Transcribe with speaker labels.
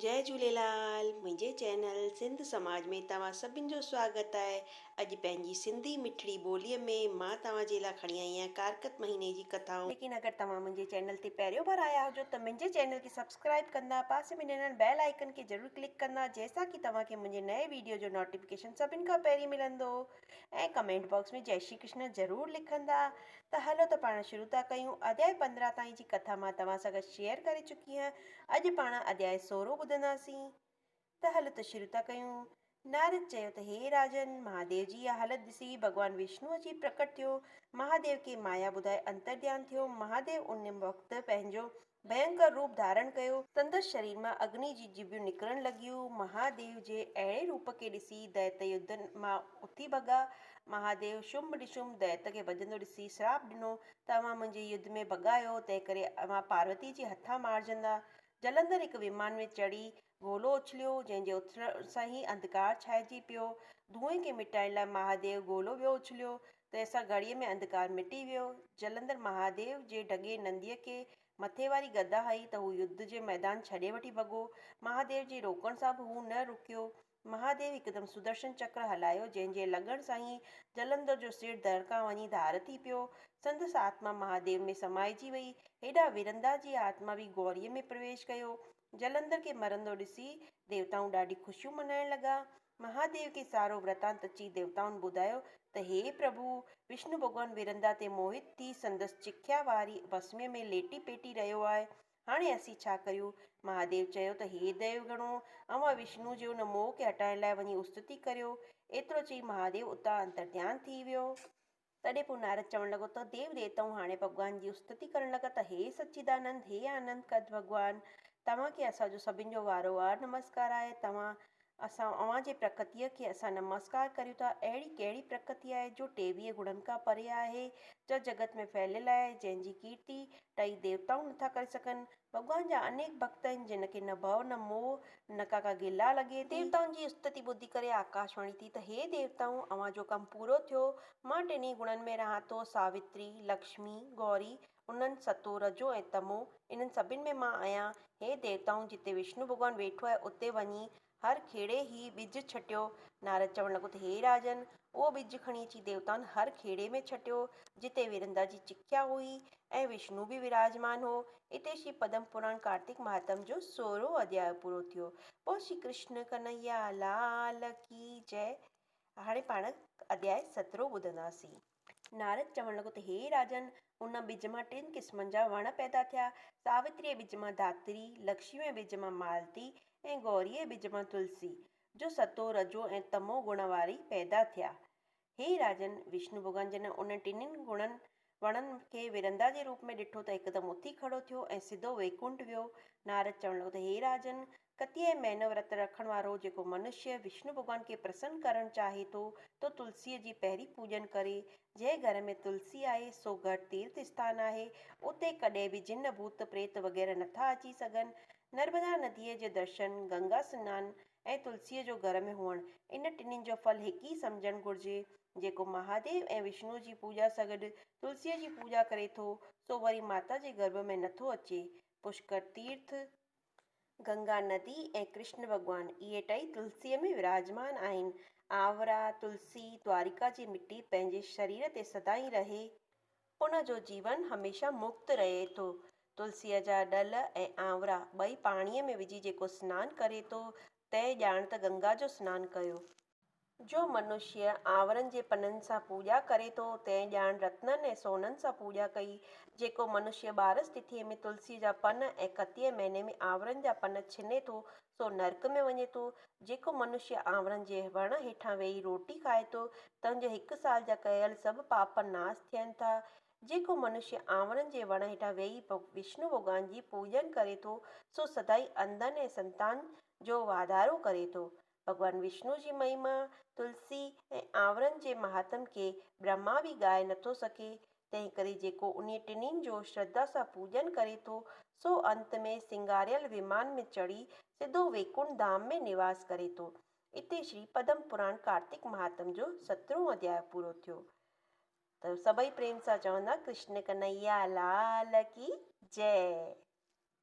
Speaker 1: جئي جهوليلال منهنجي چينل سنڌ سماج ۾ توهان سڀن جو سواگت آهي اڄ پنهنجي سنڌي مٺڙي ٻولي ۾ مان توهان جي لا کڻي آئي آهيان ڪارڪت مهيني جي ڪٿائون. ليڪن اگر توهان منهنجي چينل تي پهريون ڀر آيا هجو ته منهنجي چينل کي سبسڪرائب ڪندا پاسي ۾ ڏنل بيل آئيڪن کي ضرور ڪلڪ ڪندا جنهن سان ڪي توهان کي منهنجي نئين ويڊيو جو نوٽيفڪيشن سڀن کان پهرين ملندو. ۽ ڪمينٽ باڪس ۾ جئي شري ڪرشنا ضرور لکندا ته هلو ته پاڻ شروع ٿا ڪيون اڌيائي پندرهن تائين جي ڪٿا مان توهان سان گڏ شيئر ڪري چڪي هان اڄ پاڻ اڌيائي سورهون ٻڌنداسين ته هلو ته شروع ٿا ڪيون نارد چيو ته هي راجن مهاديو جي اها حالت ڏسي ڀڳوان وشنو اچي پرڪٽ ٿيو مهاديو کي مايا ٻڌائي انتر ڌيان ٿيو مهاديو ان وقت پنهنجو ڀينڪر روپ ڌارڻ ڪيو. سندس شرير مان اگني جي جيڀيون نڪرڻ لڳيون. مهاديو جي اهڙي روپ کي ڏسي دئيت يڌ مان اٿي ڀڳا. مهاديو شنڀ نشنڀ دئيت کي ڀڄندو ڏسي شراپ ڏنو ته اوهان منهنجي يڌ ۾ ڀڳا آهيو، تنهنڪري اوهان پاروتي جي هٿان مارجندا. جلندر هڪ ومان ۾ چڙهي گولو اڇليو، جنهن جي اڇلڻ سان ئي انڌڪار ڇانئجي پيو. ڌوئين کي مٽائڻ لاء مهاديو گولو ٻيو اڇليو، تنهن سان گهڙيء ۾ انڌڪار مٽي ويو. جلندر مهاديو جي ڊگهي ننديء کي مٿي واري گدا هئي ته هو يڌ جي ميدان ڇڏي وٺي ڀڳو. مهاديو جي روڪڻ سان به هو نه رڪيو. مهاديو هڪدم سدرشن چڪر هلايو، جنهن جي لڳڻ سان ئي جلندر جو سر دڙڪان وڃي ڌار ٿي پيو. سندس آتما مهاديو ۾ سمائجي وئي. هيڏانهن ورندا جي آتما به گهوريء ۾ پرويش ڪيو. جلندر کي مرندو ڏسي ديوتائون ڏاڍي خوشيون منائڻ لڳا. مهاديو کي سارو ورتانت اچي ديوتائن ٻڌايو ته هي پرڀو، وشنو ڀڳوان ورندا تي موهت ٿي سندس چکيا واري ڀسمي ۾ ليٽي پيٽي رهيو آهي، هاڻي اسين ڇا ڪريون؟ مهاديو چيو ته هي ديو گڻو، اوهان وشنو جي ان موهه کي هٽائڻ لاء وڃي استتي ڪريو. ايترو چئي مهاديو اتان انترديان ٿي ويو. تڏهن پوء نارد چوڻ لڳو ته ديو ديوتائون هاڻي ڀڳوان جي استتي ڪرڻ لڳا ته هي سچيدانند، هي آنند ڪد ڀڳوان، توهان کي اسان جو سڀن جو وارو وار نمسڪار آهي. توهان اسان اوهان جي پرڪتيء کي اسان نمسڪار ڪريون ٿا. اهڙي ڪهڙي پرڪتي آهي جو ٽيويهه گڻن کان پري آهي، جا جڳت ۾ ڦهليل آهي، جنهن جي ڪيرتي ٽئي ديوتائون نٿا ڪري سگهن، ڀڳوان جا انيڪ ڀڳت آهن جن کي نه ڀؤ نه موهه نه ڪا ڪا گلا لڳي ٿي. ديوتائن جي استتي ٻڌي ڪري آڪاشواڻي ٿي ته هي ديوتائون اوهان جو ڪم پورو ٿيو، مان ٽنهي گڻن ۾ رهان ٿو، ساوتري، لڪشمي، گوري، انن، ستو، رجو ۽ تمو، انهن سڀن ۾ مان آهيان، هي ديوتائون جتي وشنو ڀڳوان ويٺو آهي اتي وڃي هر کيڙي هي ٻج ڇٽيو. نارد چوڻ لڳو ته هي راجن! اهو ٻج کڻي اچي ديوتائن هر کيڙي ۾ ڇٽيو، جتي ورندا جي چکيا هئي ۽ وشنو به وراجمان هو. اتي شري پدم پراڻ ڪارتڪ مهاتم جو سورهون اڌياء پورو ٿيو. بول شري ڪرشن ڪنهيا لال ڪي جئه. هاڻي پاڻ اڌياء سترهون ٻڌنداسين. نارد چوڻ لڳو ته هي راجن! ان ٻج مان ٽن قسمن جا وڻ پيدا ٿيا. ساوتريء ٻج مان ڌاتري، لڪشميء ٻج مان مالتي ۽ گوريء ٻج مان تلسي، جو ستو، رجو ۽ تمو گڻ واري پيدا ٿيا. هي راجن! وشنو ڀڳوان جڏهن انهن ٽنهي گڻن وڻن کي ورندا جي روپ ۾ ڏٺو ته هڪدم اٿي کڙو ٿيو ۽ سڌو ويڪنٺ ويو. نارد چوڻ لڳو ته هي راجن! ڪتيء مهينو ورت رکڻ وارو جيڪو منشيه وشنو ڀڳوان کي پرسن ڪرڻ چاهي ٿو تو تلسيء جي پهرين پوڄن ڪري. جنهن گهر ۾ تلسي آهي سو گهر تيرٿ اسٿان آهي. اتي ڪڏهن به جن ڀوت پريت وغيره نه ٿا اچي سگهن. نرمدا نديء جو درشن، گنگا سنان ۽ تلسيء جو گهر ۾ هئڻ ان ٽنهين جو ڦل هڪ ئي سمجهڻ گهرجي. جيڪو مهاديو ۽ وشنوء جي پوڄا سگڏ تلسيء جي پوڄا ڪري ٿو سو وري ماتا جي گرڀ ۾ نه ٿو اچي. پشڪر تيرٿ، گنگا ندي ۽ ڪرشن ڀڳوان اهي ٽئي تلسيء ۾ وراجمان آهن. آورا تلسي دوارڪا جي مٽي پنهنجي شرير تي سدائين رهي. ان جو جيون هميشه مڪت رهي ٿو. تلسيء جا ڏل ۽ آورا ٻئي پاڻيء ۾ وجهي جيڪو سنان ڪري ٿو، تنهن ڄاڻ ته گنگا جو سنان ڪيو. جو منشيء آنورن جي پنن سان پوڄا ڪري ٿو، تنهن ڄاڻ رتنن ۽ سونهن سان پوڄا ڪئي. جيڪو منشيء ٻارس تٿيء ۾ تلسيء جا پن ۽ ڪتيء مهيني ۾ آنورن جا پن ڇني ٿو، سو نرڪ ۾ وڃي ٿو. جيڪو منشيء آنورن جي وڻ هيٺان ويهي روٽي کائي ٿو، تنهن جي هڪ سال جا ڪيل سڀ پاپ ناس ٿين ٿا. جيڪو منشيء آنورن جي وڻ هيٺان ويهي وشنو ڀڳوان جي پوڄن ڪري ٿو، سو سدائين انڌن ۽ سنتان جو واڌارو ڪري ٿو. ڀڳوان وشنوء جي مهيما، تلسي ۽ آنورن جي مهاتم کي برهما به ڳائي نٿو سگهي، تنهنڪري جيڪو انهي ٽنهين جو شرڌا سان پوڄن ڪري ٿو، سو انت ۾ سينگاريل ومان ۾ چڙهي سڌو ويڪنٺ ڌام ۾ نواس ڪري ٿو. اتي شري پدم پراڻ ڪارتڪ مهاتم جو سترهون اڌياء پورو ٿيو. ته سڀئي پريم سان چوندا ڪرشن ڪنهيا لال ڪي جئه.